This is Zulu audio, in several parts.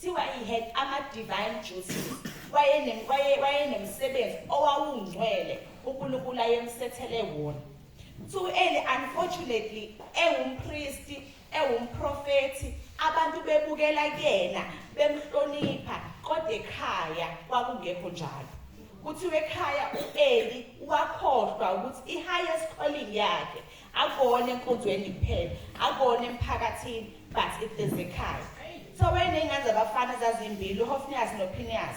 Kuthiwa he had ama-divine duties, wayene- waye- wayenemsebenzi owawungcwele uNkulunkulu ayemsethele wona. Kuthiwa u-Eli, unfortunately, ewumpristi, ewumprofethi, abantu bebukela kuyena, bemhlonipha, kodwa ekhaya kwakungekho njalo. Kuthiwa ekhaya u-Eli wakhohlwa ukuthi i-highest calling yakhe akone enkonzweni kuphela akone emphakathini but it is ekhaya so wayeney'ngane zabafana zazimbili uhofniyas nophiniyas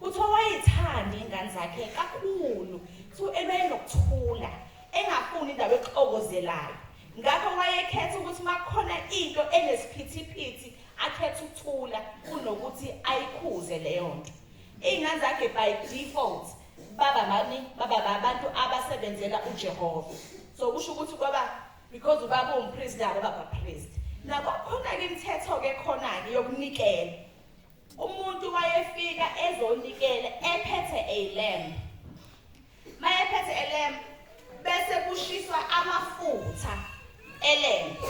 kuthi owayethanda iy'ngane zakhe kakhulu so ebeyenokuthula engafuni indawo exokozelayo ngakho wayekhetha ukuthi uma kukhona into enesiphithiphithi akhetha ukuthula kunokuthi ayikhuze leyo nto iy'ngane zakhe by default baba bani baba babantu abasebenzela uJehova so kusho ukuthi kwaba because ubaba umpriest nabo baba priest nabo khona ke imithetho ke khona ke yokunikela umuntu wayefika ezonikela ephethe a lamb mayephethe a lamb bese kushiswa amafutha elembe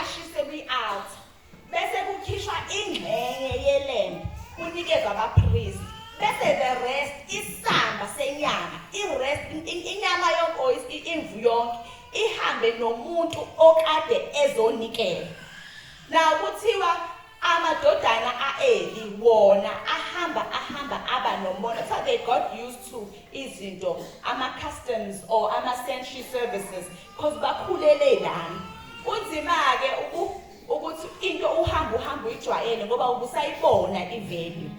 ashise kwi-altar bese kukhishwa ingxenye yelembe kunikezwa abapristi bese the rest isamba senyama irest inyama yonke imvu yonke ihambe nomuntu okade ezonikela na kuthiwa amadodana aeli wona ahamba ahamba aba nomona so they got used to izinto ama-customs or ama-century services Cause bakhulele lana. Kunzima-ke ukuthi into uhamba uhamba uyijwayele ngoba ubusayibona i-value.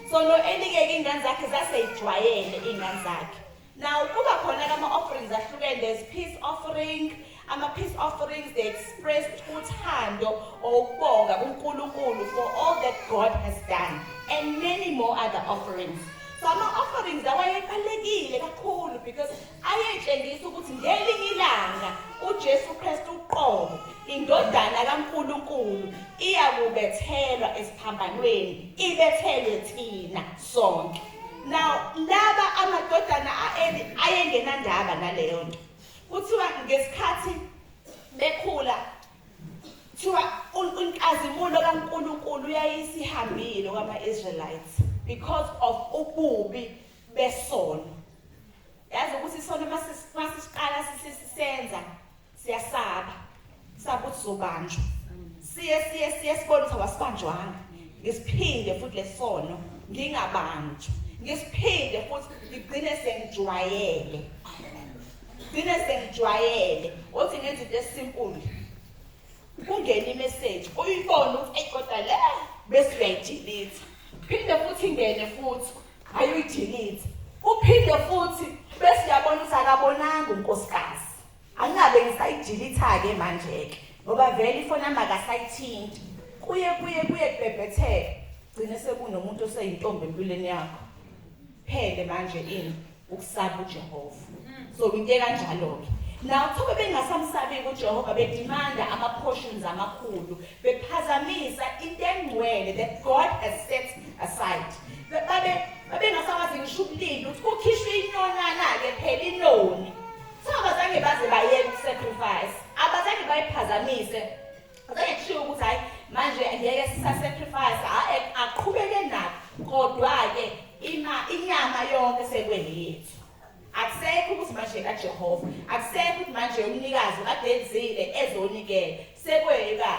So no enikeke iy'ngane zakhe zaseyijwayele iy'ngane zakhe. Now kuba khona-ke ama-offerings ahlukene, there's peace offering, ama-peace offerings they express uthando or ukubonga kuNkulunkulu for all that God has done and many more other offerings. So ama-offerings lawa ayebalulekile kakhulu because ayetshengisa ukuthi ngelinye ilanga uJesu Kristu uqobo indodana kaNkuluNkulu iyakubethelwa esiphambanweni ibethelwe thina sonke now laba amadodana aeli ayengenandaba naleyo nto kuthiwa ngesikhathi bekhula kuthiwa inkazimulo kaNkuluNkulu yayisihambile kwama-Israelites because of ububi besono yazi ukuthi isono masisiqala sisisenza siyasaba saba ukuthi zobanjwa siye siye siye sibone ukuthi awasibanjwanga ngisiphinde futhi lesono ngingabanjwa ngisiphinde futhi ngigcine sengijwayele ngigcine sengijwayele othi ngenza into esinkulu kungena imeseji uyibone ukuthi eyi kodwa le bese uyayidilitha phinde futhi ingene futhi ayuyidilitha uphinde futhi bese uyabona ukuthi akabonanga unkosikazi angabe ngisayidilitha-ke manje-ke ngoba vele ifoni yami akasayithinti kuye kuye kuye kubhebhetheka gcine sekunomuntu oseyintombi empilweni yakho phele manje ini ukusaba uJehova so into ekanjalo ke Now kube bengasamsabi kuJehova bedimanda ama portions amakhulu bephazamisa into engcwele that God has set aside. Babe babengasawazi ngisho ubulili ukuthi kukhishwe inonana ke phela inoni. So abazange baze baye sacrifice. Abazange bayiphazamise Ngeke kushiwo ukuthi hayi manje ngeke sisa sacrifice aqhubeke nakho kodwa ke ima inyama yonke sekweyethu akusekho ukuthi manje kaJehova akusekho ukuthi manje umnikazi kadenzile ezonikela sekweyeka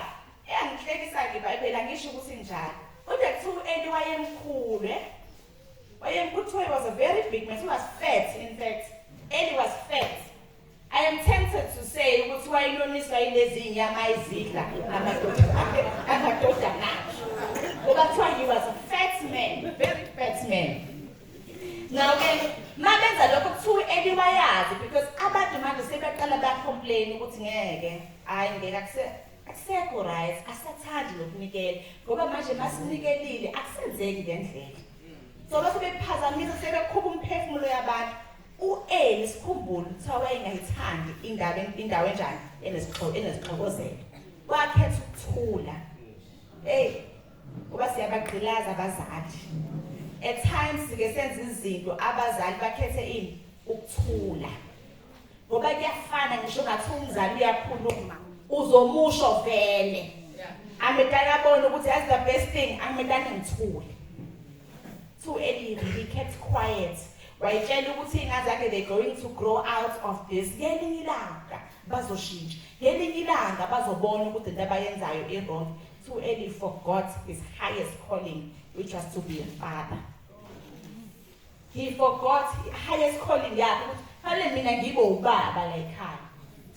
eyangihlekisa ke iBhayibheli angisho ukuthi njalo kodwa kuthiwa uEli wayemkhulu eh wayemkhulu was a very big man he was fat in fact Eli was fat I am tempted to say ukuthi wayeloniswa yilezinyama ayizidla amadodana ngoba kuthiwa he was a fat man very fat man now-ke ma benza lokho kuthiwa eliwayazi because abantu manje sebaqala bacomplain ukuthi ngeke hhayi ngeke akusekho right asathandi nokunikela ngoba manje masinikelile akusenzeki ngendlela so base bephazamisa sebekhupha umphefumulo yabantu U-Eli sikhumbule ukuthi wayengayithandi indawo indawo enjani enezixhoko enezixhokozelo. Wakhetha ukuthula. Hey, kuba siyabagqilaza abazali. At times sike senza izinto abazali bakhethe ini ukuthula. Ngoba kuyafana ngisho ngathi umzali uyakhuluma uzomusho vele. Amedala abone ukuthi as the best thing amedala ngithule. To Eli he kept quiet. wayitshela ukuthi iy'ngane zakhe they going to grow out of this ngelinye ilanga bazoshintsha ngelinye ilanga bazobona ukuthi into abayenzayo i-wrong too early forgot his highest calling which was to be a father he forgot highest calling yakhe ukuthi fanele mina ngibe ubaba la ekhaya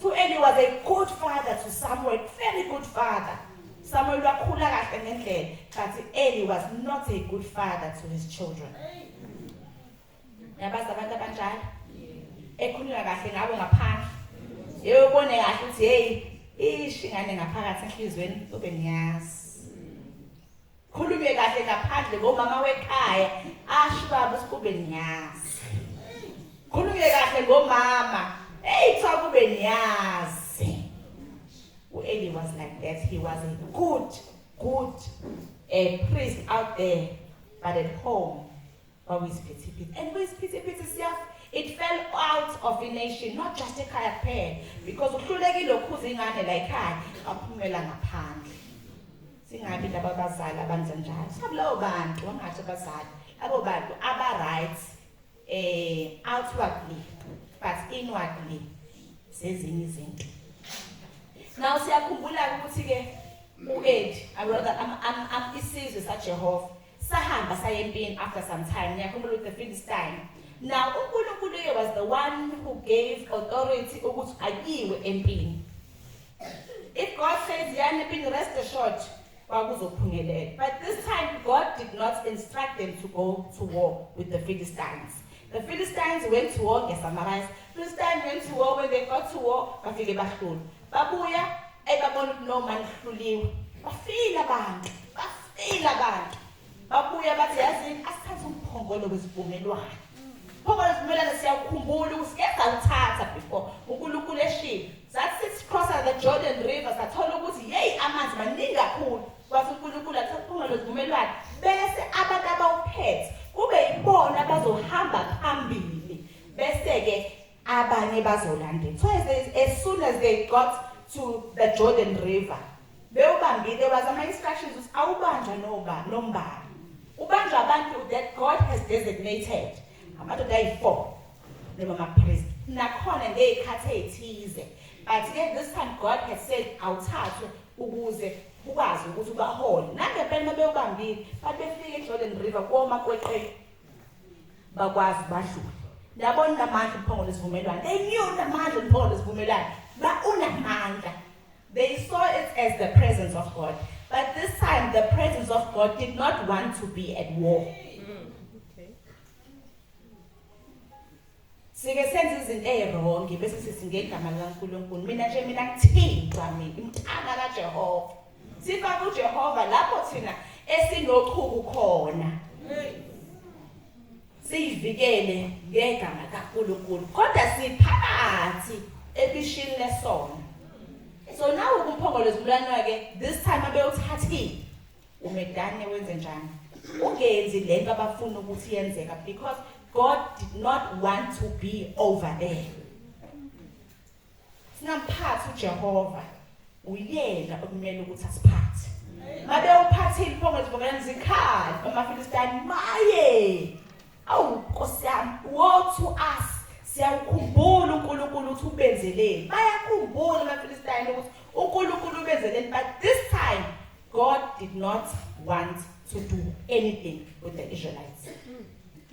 too early was a good father to samuel very good father samuel wakhula kahle ngendlela but early was not a good father to his children hey. yabazi abantu abanjalo ekhulula kahle ngabo ngaphandle yeyobone kahle ukuthi heyi ishi ngane ngaphakathi enhliziyweni ube niyazi khulume kahle ngaphandle ngomama wekhaya asho baba usikube niyazi khulume kahle ngomama eyi kuthiwa kube niyazi u-eli was like that he was a good good uh, priest out there but at home kwakuyisiphithiphithi and kuyisiphithiphithi siyaf it fell out of a nation not just ekhaya kuphela because uhlulekile ukhuza ingane la ekhaya aphumela ngaphandle singabi laba bazali abanza njalo sabulowo bantu wangathi abazali abo bantu aba-right eh outwardly but inwardly sezinye izinto now siyakhumbula ukuthi ke uEd awuka am isizwe saJehova sahamba saye empini after some time ngiyakhumbula ukuthi the Philistine now uNkulunkulu uye was the one who gave authority ukuthi ayiwe empini if God says yana empini rest assured kwakuzophumelela. But this time God did not instruct them to go to war with the Philistines. The Philistines went to war ngeSamaria. Philistines went to war when they got to war bafike bahlula. Babuya ebabona ukuthi no man hluliwe. Bafile abantu. Bafile abantu. Babuya bathi yazini asithathe umphongolo wesivumelwano. Phongolo wesivumelwano siyawukhumbula ukuthi keza uthatha before uNkulunkulu eshilo. Sathi sithi cross the Jordan River sathola ukuthi yeyi amanzi maningi kakhulu. Wathi uNkulunkulu athi umphongolo wesivumelwano bese abantu abawuphethe kube yibona abazohamba phambili bese ke abanye bazolandela. So as, as soon as they got to the Jordan River bewubambile wazi ama instructions ukuthi awubanjwa noba nombani ubanjwa abantu that God has designated amadoda ayi-four noma amaphristi nakhona ngey'khathi ey'thize but ke this time God has said awuthathwe ukuze ukwazi ukuthi ubahole nangempela uma bewubambile bathi befike ejordan river koma kweqela bakwazi badlule yabona namandla umphongolo isivumelwano they knew namandla umphongolo isivumelwano ba unamandla They saw it as the presence of God. But this time, the presence of God did not want to be at war. sike senza izinto ezirongi bese sithi ngegama likaNkulunkulu mina nje mina ngithintwa mina umthana kaJehova sifa kuJehova lapho thina esinochuku khona siyivikele ngegama kaNkulunkulu kodwa siphakathi ebishini lesono so nawe kumphongolo zibulanywa ke this time abewuthathile umedane wenze njani ungenzi lento abafuna ukuthi yenzeka because God did not want to be over there Singamphathi uJehova uyena okumele ukuthi asiphathe. Mabe uphathile iphongo zivokelana zikhali amaFilistini maye. Awu Nkosi yami wothu us siyakukhumbula uNkulunkulu ukuthi ubenzeleni. Bayakhumbula amaFilistini ukuthi uNkulunkulu ubenzeleni but this time God did not want to do anything with the Israelites.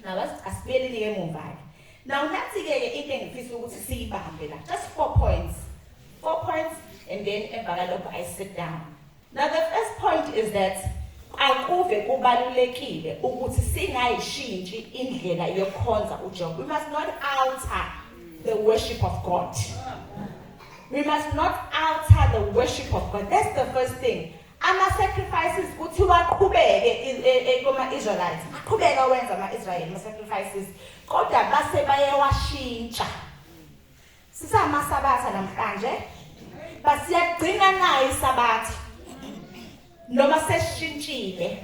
Now, asibeleni ke emuva ke Now nathi-ke ke into engifisa ukuthi siyibambe la just four points four points and then emva kalokho I sit down now the first point is that akuve kubalulekile ukuthi singayishintshi indlela yokukhonza uJehova we must not alter the worship of God we must not alter the worship of God that's the first thing Ama sacrifices kuthi waqhubeke ekoma e, Israelites. Aqhubeka wenza ama Israel ama sacrifices kodwa base bayewashintsha. Sisama sabatha namhlanje basiyagcina nayo isabatha noma seshintshile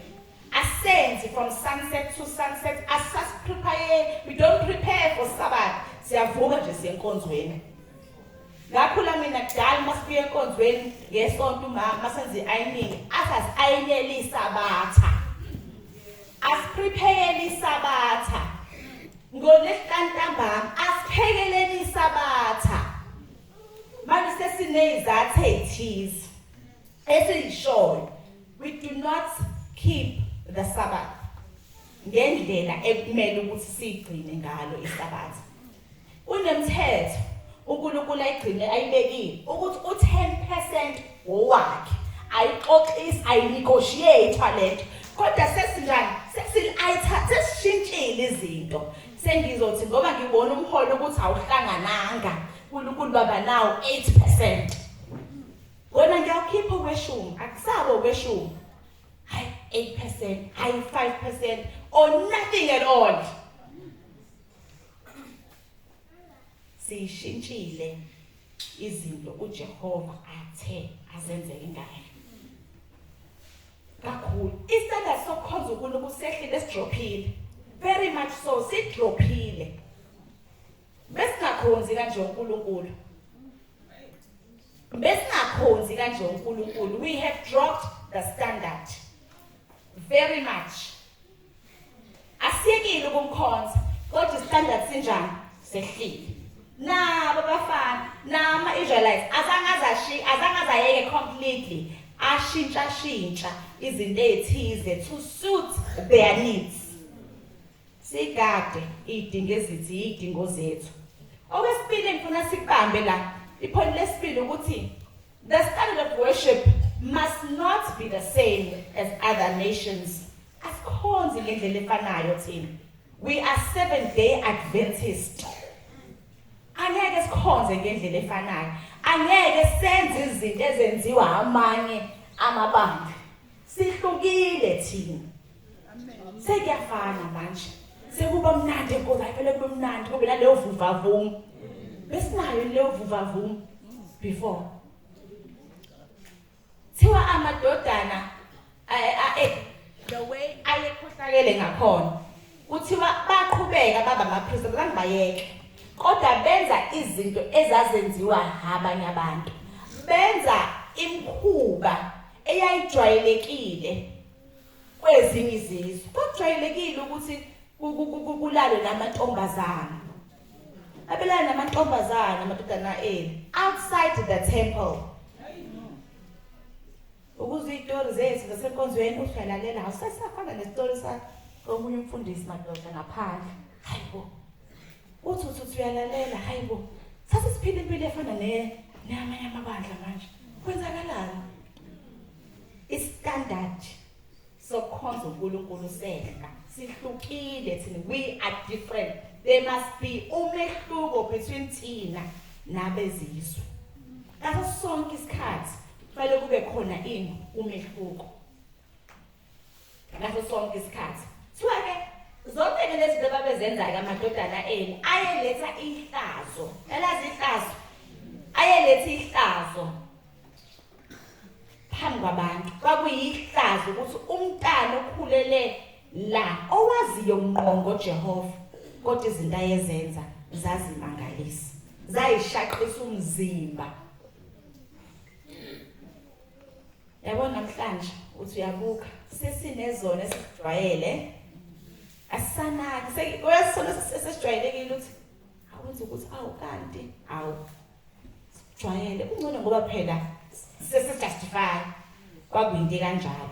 asenzi from sunset to sunset asas prepare we don't prepare for sabbath siyavuka nje siyenkonzweni ngakhula mina kudala uma sibuye enkonzweni ngesonto umama uma senza i-ayiningi athi asi-ayinele isabatha asipriphekele isabatha ngolesihlanu ntambama asiphekeleni isabatha manje sesineyizathu ey'thize esiyishoyo we do not keep the sabbath ngendlela ekumele ukuthi siyigcine ngalo isabatha Kunemthetho uNkulunkulu ayigcine ayibekile ukuthi u-10 percent wowakhe ayixoxisi ayinegotiate lento kodwa sesinjani sesishintshile izinto sengizothi ngoba ngibona umholo ukuthi awuhlangananga uNkulunkulu baba nawo 8% wena ngiyakhipha kweshumi akusabo kweshumi hayi 8% hayi 5% or nothing at all siyishintshile izinto uJehova athe azenze ingane kakhulu isitanda sokukhonza uNkulunkulu sehlile sidrophile very much so sidrophile besingakhonzi kanje uNkulunkulu besingakhonzi kanje uNkulunkulu we have dropped the standard very much Asiyekile ukumkhonza kodwa standard sinjani? Sehlile. Nabo bafana nama Israelites azange azashi azange azayeke completely ashintsha shintsha izinto ezithize to suit their needs. Sigade idingo ezithi idingo zethu. Okwesibili ngifuna sibambe la iphoni lesibili ukuthi the standard of worship must not be the same as other nations Asikhonzi ngendlela efanayo thina. We are seven day Adventist. Angeke sikhonze ngendlela efanayo. Angeke senze izinto ezenziwa amanye amabandla. Sihlukile thina. Sekuyafana manje. Sekuba mnandi enkoza ayifele kube mnandi kube naleyo vuvavuma. Besinayo leyo vuvavuma before. Thiwa amadodana eh, the way ayekhohlakele ngakhona kuthiwa baqhubeka baba amaphristi abazange bayeke kodwa benza izinto ezazenziwa abanye abantu benza imkhuba eyayijwayelekile kwezinye izizwe kwakujwayelekile ukuthi kulalwe namantombazana abelana namantombazana amadodana enu outside the temple ukuze izitori zethu zasenkonzweni uhlalalela awusasafana nesitori sakomunye umfundisi madoda ngaphandle hayi bo uthi uthi uthi uyalalela hayi bo sase siphila impilo efana neyamanye amabandla manje kwenzakalani istandard sokukhonza uNkulunkulu sehla sihlukile thina we are different there must be umehluko between thina nabezizwe ngaso sonke isikhathi kufanele kube khona ini umehluko ngaso sonke isikhathi kuthiwa ke zonke ke lezi zinto babezenzayo amadodana enu ayeletha ihlazo elazi ihlazo ayeletha ihlazo phambi kwabantu kwakuyihlazo ukuthi umntana okhulele la owaziyo ngqo ngoJehova kodwa izinto ayezenza zazimangalisa zayishaqisa umzimba yabo namhlanje uthi uyabuka sesinezona esikujwayele asanaki sesijwayelekile ukuthi awuthi ukuthi awu kanti awu jwayele kungcono ngoba phela sesijustify kwakuyinto kanjalo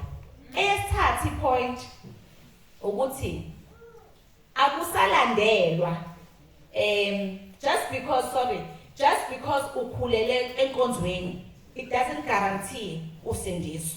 eyesithathu point ukuthi akusalandelwa um just because sorry just because ukhulele enkonzweni it doesn't guarantee usindiso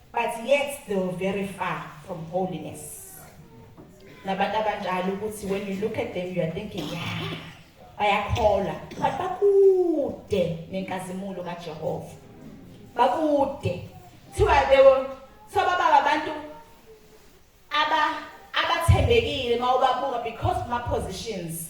but yet they were very far from holiness nabantu abanjalo ukuthi when you look at them you are thinking yeah bayakholwa but bakude nenkazimulo kajehova bakude kuthiwa they were so baba abantu aba abathembekile mawubabuka because ma positions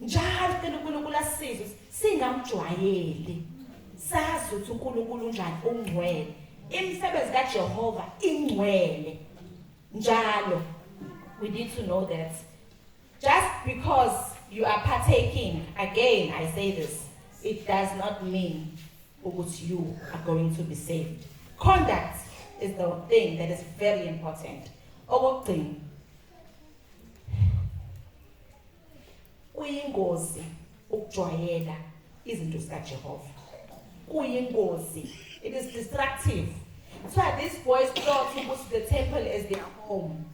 njalo sicela uNkulunkulu asisize singamjwayeli sazi ukuthi uNkulunkulu unjani ungcwele imisebenzi kaJehova ingcwele njalo we need to know that just because you are partaking again i say this it does not mean ukuthi you are going to be saved conduct is the thing that is very important okugcina Kuyingozi ukujwayela izinto zikaJehova. Kuyingozi. It is destructive. So this boy thought he was the temple as their home.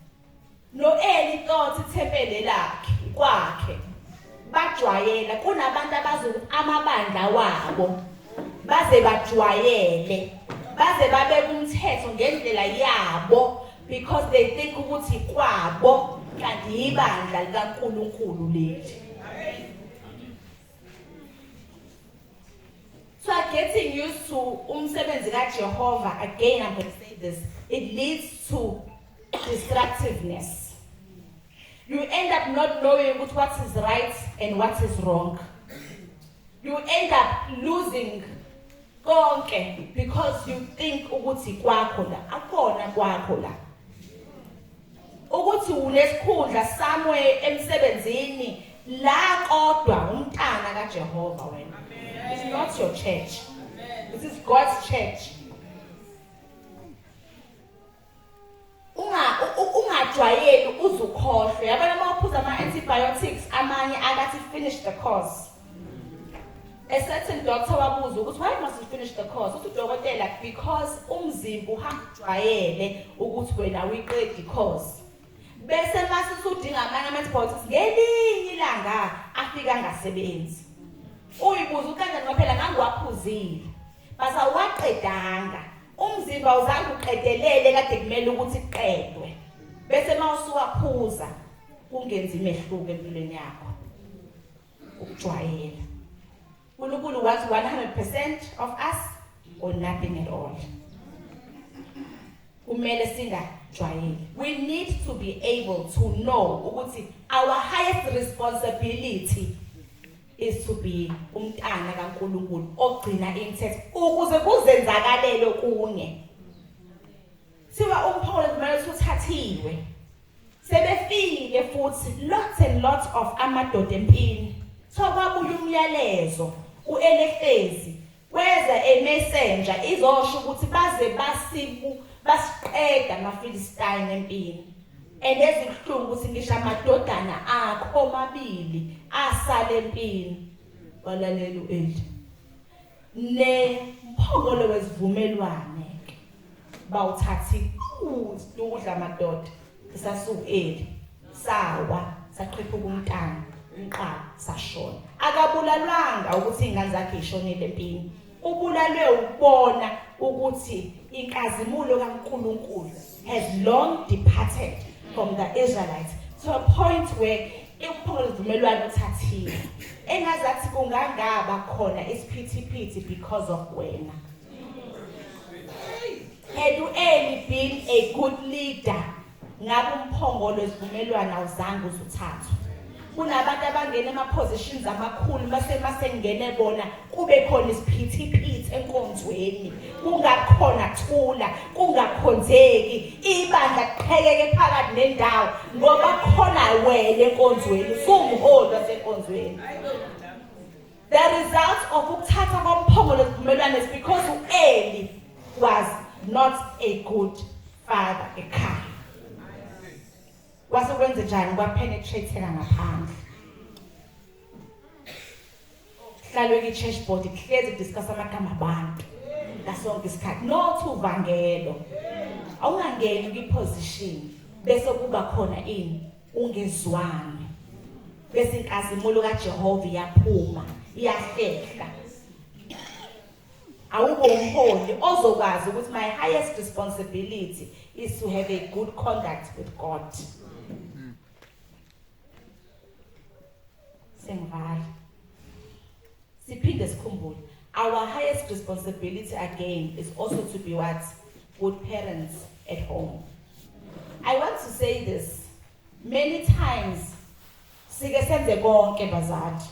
Noeli thought ithempele lakhe kwakhe. Bajwayela kunabantu abazoku amabandla wabo. Baze bajwayele. Baze babe kumthetho ngendlela yabo. because they think ukuthi kwabo kanti yibandla likaNkulunkulu leli So I'm getting used to umsebenzi kaJehova again I'm going to say this it leads to distractiveness You end up not knowing ukuthi what is right and what is wrong. You end up losing konke because you think ukuthi kwakho la akona kwakho la ukuthi unesikhundla somewhere emsebenzini la kodwa umntana kaJehova wena it's not your church this is God's church ungajwayeli uze ukhohlwe yabona uma uphuza ama-antibiotics amanye akathi finish the course a certain doctor wabuza ukuthi why must you finish the course uthi udokotela because umzimba uhamba ujwayele ukuthi wena uyiqedi course bese mase usudinga amanye ama-antibiotics ngelinye ilanga afika angasebenzi uyibuza ukanjani kwaphela ngangiwaphuzile But awaqedanga. Umzimba uzange uqedelele kade kumele ukuthi kuqedwe. Bese mawusuwaphuza kungenzi imehluko empilweni yakho. Ukujwayela. uNkulunkulu wathi 100% of us or nothing at all kumele singajwayeli we need to be able to know ukuthi our highest responsibility is to be umntana kaNkulunkulu ogcina imithetho ukuze kuzenzakalele kunye siwa umpholo kumele uthathiwe sebefile futhi lots and lots of amadoda empini so kwabuya umyalezo uelefezi Kweza eMessenger izosho ukuthi baze basibu basiqeda amaFilistine empini. And ezibuhlungu ukuthi ngisho amadodana akho omabili asale empini. Walalela uEli. Ne mphongolo wesivumelwane bawuthathi ukudla amadoda. sasukeli sawa saqhipha umntana nqa sashona akabulalwanga ukuthi ingane zakhe ishonile empini ubulalwe ukubona ukuthi inkazimulo kaNkuluNkulu has long departed from the Israelites to a point where ikuphungula izivumelwano uthathile engazathi kungangaba khona isiphithiphithi because of wena Had u early been a good leader ngabe umphongolo esivumelwano awuzange uzuthathwe kunabantu abangena ema-positions amakhulu mase masengene bona kube khona isiphithiphithi enkonzweni kungakhona thula kungakhonzeki ibandla kuqheleke phakathi nendawo ngoba khona wena enkonzweni sumholi wasenkonzweni The results of ukuthatha komphongolo isivumelwane is because u-Eli was not a good father ekhaya. Kwase kwenze njani kwapenetratheka ngaphandle. Hlalwe ki church board kuhlezi kudiscuss amagama abantu. Ngasonke isikhathi no to vangelo. Awungangeni kwi position bese kuba khona ini ungezwani bese inkazimulo kaJehova iyaphuma iyahlehla awukho umholi ozokwazi ukuthi my highest responsibility is to have a good conduct with God Sengivala. Siphinde sikhumbule our highest responsibility again is also to be what good parents at home. I want to say this many times sike senze konke bazali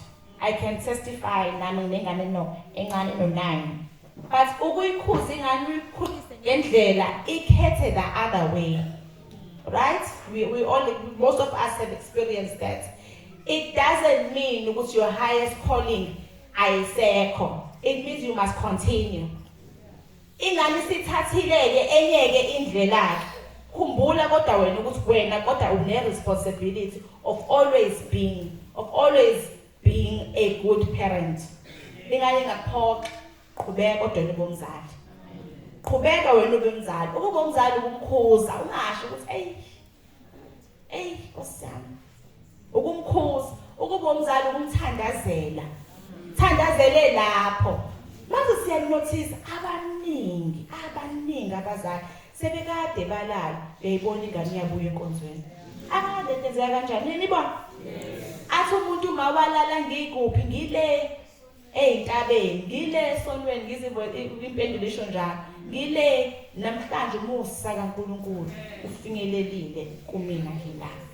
I can testify nami nengane no encane no nine But ukuyikhuza ingane uyikhulise ngendlela ikhethe the other way. Right? We, we all, most of us have experienced that. It doesn't mean ukuthi your highest calling ayisekho. It means you must continue. Ingane sithathileke enyeke indlela khumbula kodwa wena ukuthi wena kodwa une responsibility of always being of always being a good parent ingaye ngaphoxa qhubeka kodwa nibomzali qhubeka wena ube umzali ukuba umzali ukumkhuza ungasho ukuthi eyi eyi nkosiyami ukumkhuza ukuba umzali ukumthandazela thandazele lapho manje siyanothisa abaningi abaningi abazali Sebekade balala beyibona ingane iyabuya enkonzweni. Angazi lento enzeka kanjani. Niyibona? Athi umuntu uma walala ngikuphi ngile ezintabeni ngile sontweni ngizibwe impendulo isho njalo ngile namhlanje umusa kaNkuluNkulu ufinyelelile kumina ngilapha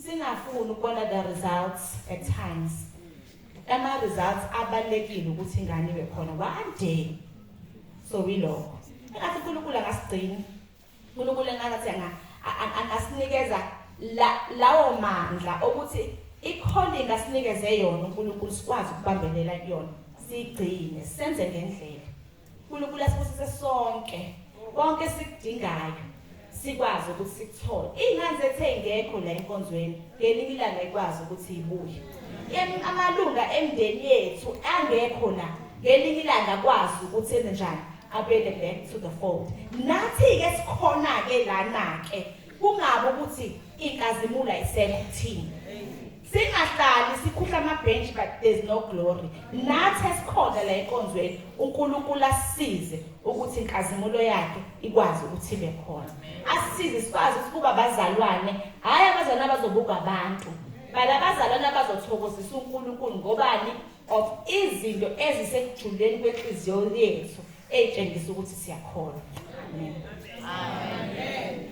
singafuni ukubona the results at times Ama results abalekile ukuthi ingane ibe khona one day. So we love. Engathi uNkulunkulu akasigcini. uNkulunkulu engathi anga asinikeza lawo mandla okuthi i-calling asinikeze yona uNkulunkulu sikwazi ukubambelela kuyona sigcine senze ngendlela uNkulunkulu asibusise sonke konke esikudingayo sikwazi ukuthi sikuthole iy'ngane zethu ey'ngekho la enkonzweni ngelinye ilanga ikwazi ukuthi ibuye amalunga emndeni yethu angekho la ngelinye ilanga akwazi ukuthi enze njani abele back to the fold nathi-ke sikhona-ke lana-ke kungabi ukuthi inkazimulo ayisekho kuthina Singahlali sikhuhla amabhentshi but there's no glory. Nathi esikhona la enkonzweni uNkulunkulu asisize ukuthi inkazimulo yakhe ikwazi ukuthi ibe khona. Asisize sikwazi ukuthi kuba bazalwane, hhayi abazalwane abazobuka abantu. Bala abazalwane abazothokozisa uNkulunkulu ngobani of izinto ezisekujuleni kwenhliziyo yethu eyitshengisa ukuthi siyakholwa. Amen. Amen.